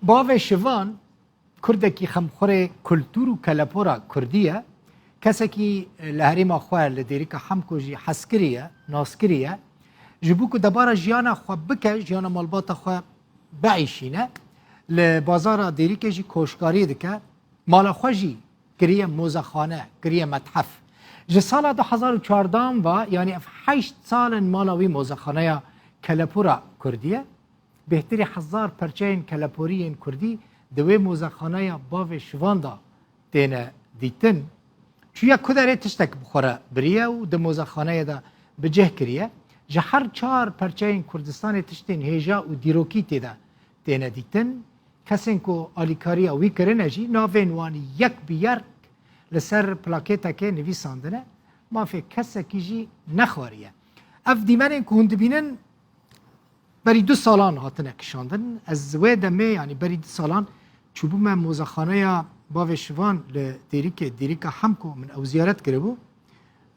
Bavê Şivan kurdekî xemxurê kultûr û kelepora kurdî ye. Kesekî li herêma xwe li Dêrika Hemko jî hezkirî ye, naskirî ye. Ji bo ku debara jiyana xwe bike, jiyana malbata xwe biîşîne, li bazara Dêrikê jî koşkkarî dike. Mala xwe jî kiriye mozexane, kiriye methef. Ji sala du hezar û çardan va yanî ev heşt sal in mala wî mozexaneya kelepora kurdî ye. Bêhtirî hezar perçeyên keleporî yên kurdî di wê mozexaneya bavê şivan de têne dîtin. Çûye kuderê tiştek bi xwe re biriye û di mozexaneyê de bi cih kiriye. Ji her çar perçeyên Kurdistanê tiştên hêja û dîrokî tê de têne dîtin. Kesên ku alîkariya wî kirine jî navên wan yek bi yerk li ser plakêtekê nivîsandine. Mafê kesekî jî nexwariye. Ev dîmenên ku hûn dibînin Berî du salan hatine kişandin. Ez wê demê yanî berî du salan çûbûme mozexaneya bavê şivan li Dêrikê, Dêrika Hemko min ew ziyaret kiribû.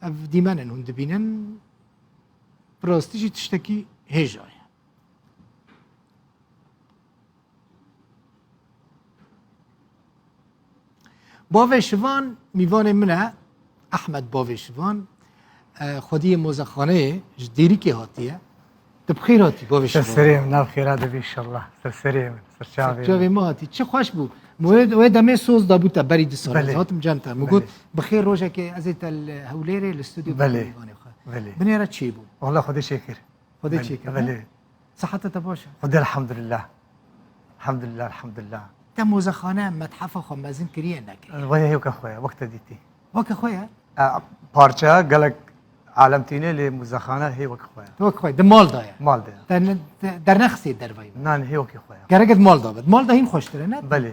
Ev dîmen in hûn dibînin. Bi rastî jî tiştekî hêja ye. Bavê Şivan mîvanê min e Ehmed Bavê Şivan xwediyê mozexaneyê ji dêrikê hatiye Tu bi xêr hatî Bavê Şivan Serserê min nav xêra dibî inşallah Serserê min Serçavê min Serçavê min hatî Çi xweş bû Wê demê soz dabû te berî du sal ez hatim cem te min got bi xêr rojekê ez ê te li Hewlêrê li studyo mîvanê xwe binêre çêbû Wala xwedê çêkir Xwedê çêkir Sihete te baş e? Xwedê elhamdulillah. Elhamdulillah elhamdulillah. Te mozexane methafa xwe mezin kiriye nekiriye? Wê hêwka xwe ye wekte dîtî. Weke xwe ye? Parçeya gelek alem tîne lê mozexane hêwek xwe ye. Wek xwe di mal da ye. Mal de ye. Te dernexisiye dervayî. Nan hêwekê xwe ye. Gerek di mal da be. Di mal da hîn xweştir e ne? Belê.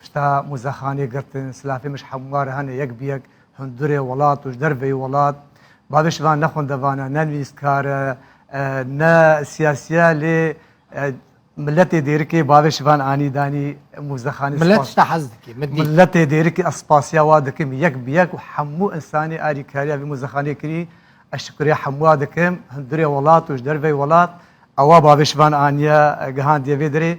Pişta muzexanê girtin, silafê mij hemûa re hene yek bi yek hundurê welat û ji derveyî welat. Bavê şivan ne xwendevan e, ne nivîskar e, ne siyasî ye lê miletê dêrikê bavê şivan anî danî muzexanê. Milet ji te hez dike. Miletê dêrikê ez spasiya wan dikim yek bi yek û hemû insanê alîkariya vê muzexanê kirî ez şikuriya hemûa dikim. Hundurê welat û ji derveyî welat ewa bavê şivan aniye gihandiye vê derê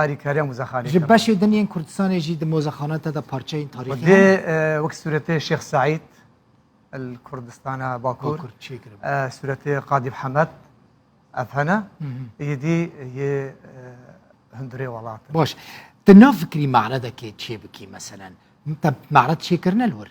Arî kariya muzexanê. Ji beşê din yên Kurdistanê jî di mozexanan te de parçeyên tarîxî. Dê wek sûretê Şêx Saîd el Kurdistana Bakur sûretê Qadîb Hemed ev hene yê dî yê hundirê welat. Baş Di nav fikrî meredekê çê bikî meselen te meret çêkirine li wir.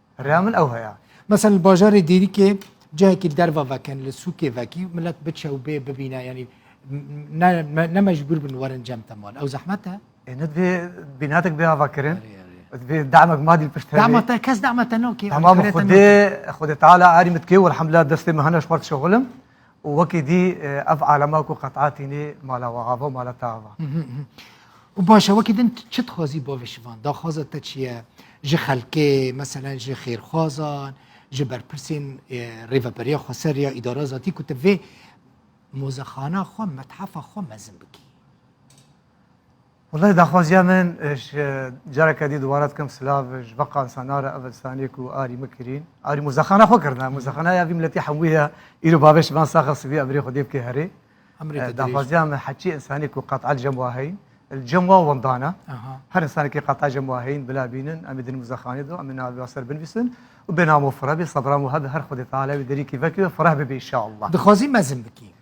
Reya min ew heye. Mesela li bajarê Dêrikê cihekî li derva vekin li sûkê vekî milet biçe û bê bibîne yanî ne mecbûr bin werin cem te mal. Ew zehmet e? E ne divê bînatek bê avakirin. Divê demek madî li pişt hebe. Dema te kes dema te nakê. Tamam xwedê xwedê teala erî min dikê welhamdulillah destê min hene ji xwe dişexilim. Û wekî dî ev alema ku qet'a tînî mala we ava û mala te ava. Û baş e wekî din tu çi dixwazî bavê şivan? Daxwaza te çi ye? Ji xelkê meselen ji xêrxwazan, ji berpirsên Rêveberiya Xweser ya Îdara Zatî ku tu vê mozexana xwe, methefa xwe mezin bikî? Walayi daxwaziya min ji careke dî dubare dikim silav ji beqa insanara ev insaniyê ku arî min kirîn arî muzexana xwe kirine muzexana ya vî miletî hemû ye îro bavê ji van saxe sivî emirê xwe dê bikê herê daxwaziya min heçî insanî ku qet'a cem wa heyin cem wa wendana her insanekî qet'a cem wa heyin bila bînin em ê din muzexanê do em ê navê ser binivîsin û bênamo fira bê sebra û hebe her xwedê teala wî derîkî vekê fireh bibe inşallah dixwazî mezin bikî